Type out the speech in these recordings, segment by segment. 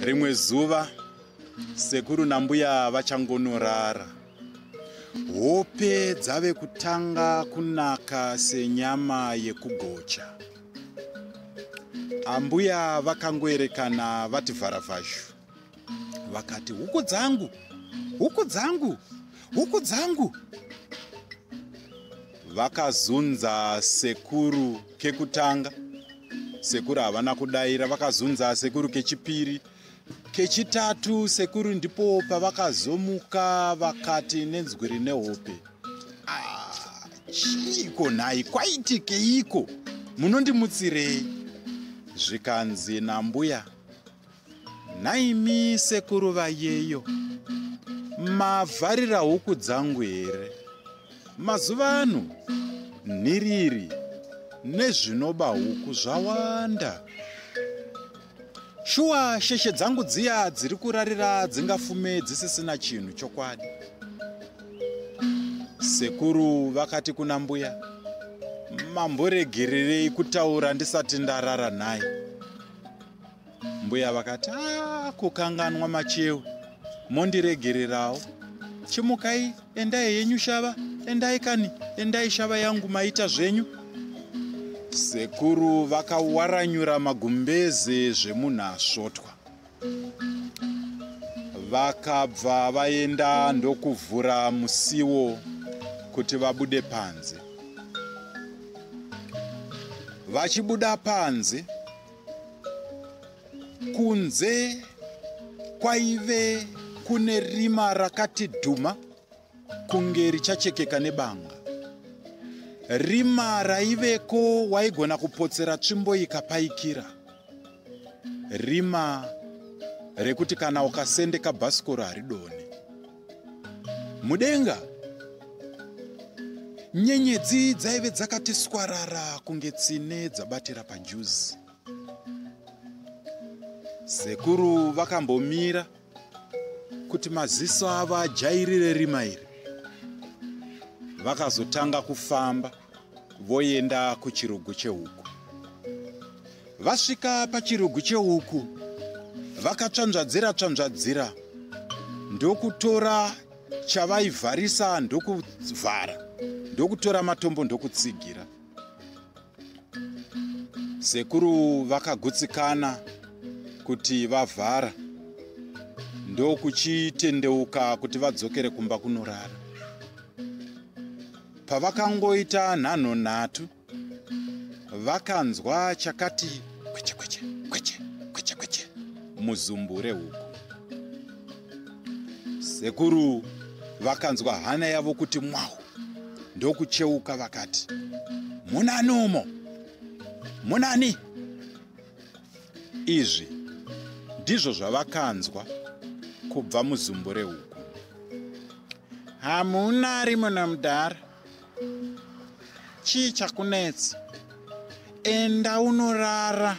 rimwe zuva sekuru nambuya vachangonorara hope dzave kutanga kunaka senyama yekugocha ambuya vakangoerekana vati vharavhazhu vakati huku dzangu huku dzangu huku dzangu vakazunza sekuru kekutanga sekuru havana kudaira vakazunza sekuru kechipiri kechitatu sekuru ndipo pavakazomuka vakati nenzwi rine hope ah, chiiko nhai kwaitikeiko munondimutsirei zvikanzi nambuya nhaimi sekuru vayeyo mavharira huku dzangu here mazuva ano nhiriri nezvinoba huku zvawanda shuwa sheshe dzangu dziya dziri kurarira dzingafume dzisisina chinhu chokwadi sekuru vakati kuna mbuya mamboregererei kutaura ndisati ndarara nhai mbuya vakati ah, kukanganwa machewe mondiregererawo chimukai endai yenyu shava endai kani endai shava yangu maita zvenyu sekuru vakawaranyura magumbeze zvemunhu asvotwa vakabva vaenda ndokuvhura musiwo kuti vabude panze vachibuda panze kunze kwaive kune rima rakati dhuma kunge richachekeka nebanga rima raiveko waigona kupotsera tsvimbo ikapaikira rima rekuti kana ukasendeka bhasikoro haridoni mudenga nyenyedzi dzaive dzakati swarara kunge tsine dzabatira pajuzi sekuru vakambomira kuti maziso avo ajairire rima iri vakazotanga kufamba voenda kuchirugu chehuku vasvika pachirugu chehuku vakatsvanzvadzira tsvanzvadzira ndokutora chavaivharisa ndokuvhara ndokutora matombo ndokutsigira sekuru vakagutsikana kuti vavhara ndokuchitendeuka kuti vadzokere kumba kunorara Pavakangoita nhanho nhatu, vakanzwa chakati kweche kweche kweche kweche kweche muzumbure huku. Sekuru vakanzwa hana yavo kuti mwahu ndokucheuka vakati, munani umo munani. Izvi ndizvo zvavakanzwa kubva muzumbure huku. hamuna arimo namudhara chii chakunetsa enda unorara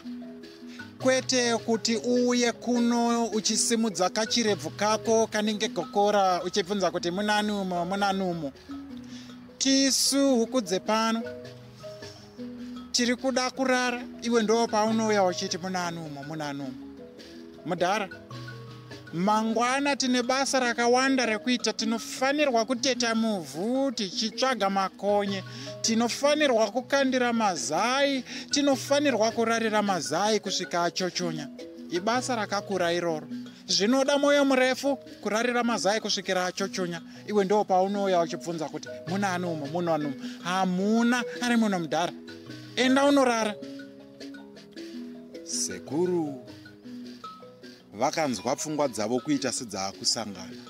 kwete kuti uuye kuno uchisimudza kachirebvu kako kanenge gokora uchibvunza kuti munani umo munani umo tisu huku dzepano tiri kuda kurara iwe ndo paunouya uchiti muna anumwe muna anumwe mudhara mangwana tine basa rakawanda rekuita tinofanirwa kuteta muvhu tichitsvaga makonye tinofanirwa kukandira mazai tinofanirwa kurarira mazai kusvika achochonya ibasa rakakura iroro zvinoda mwoyo murefu kurarira mazai kusvikira achochonya iwe ndo paunouya uchibvunza kuti muna ani umo muno ani umo hamuna ari muno mudhara enda unorara sekuru vakanzwa pfungwa dzavo kuita sedzakusangana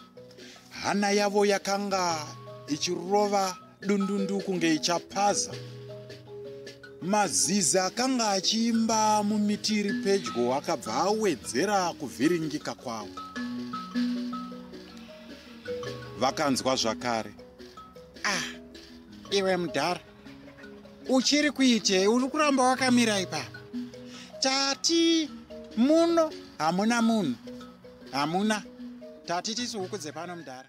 hana yavo yakanga ichirova dundundu kunge ichapaza mazizi akanga achiimba mumiti iri pedyo akabva awedzera kuvhiringika kwavo vakanzwa zvakare ah iwe mudhara uchiri kuitei uri kuramba wakamira ipapa tati muno hamuna munhu hamuna tati tisi huku dzepano mudhara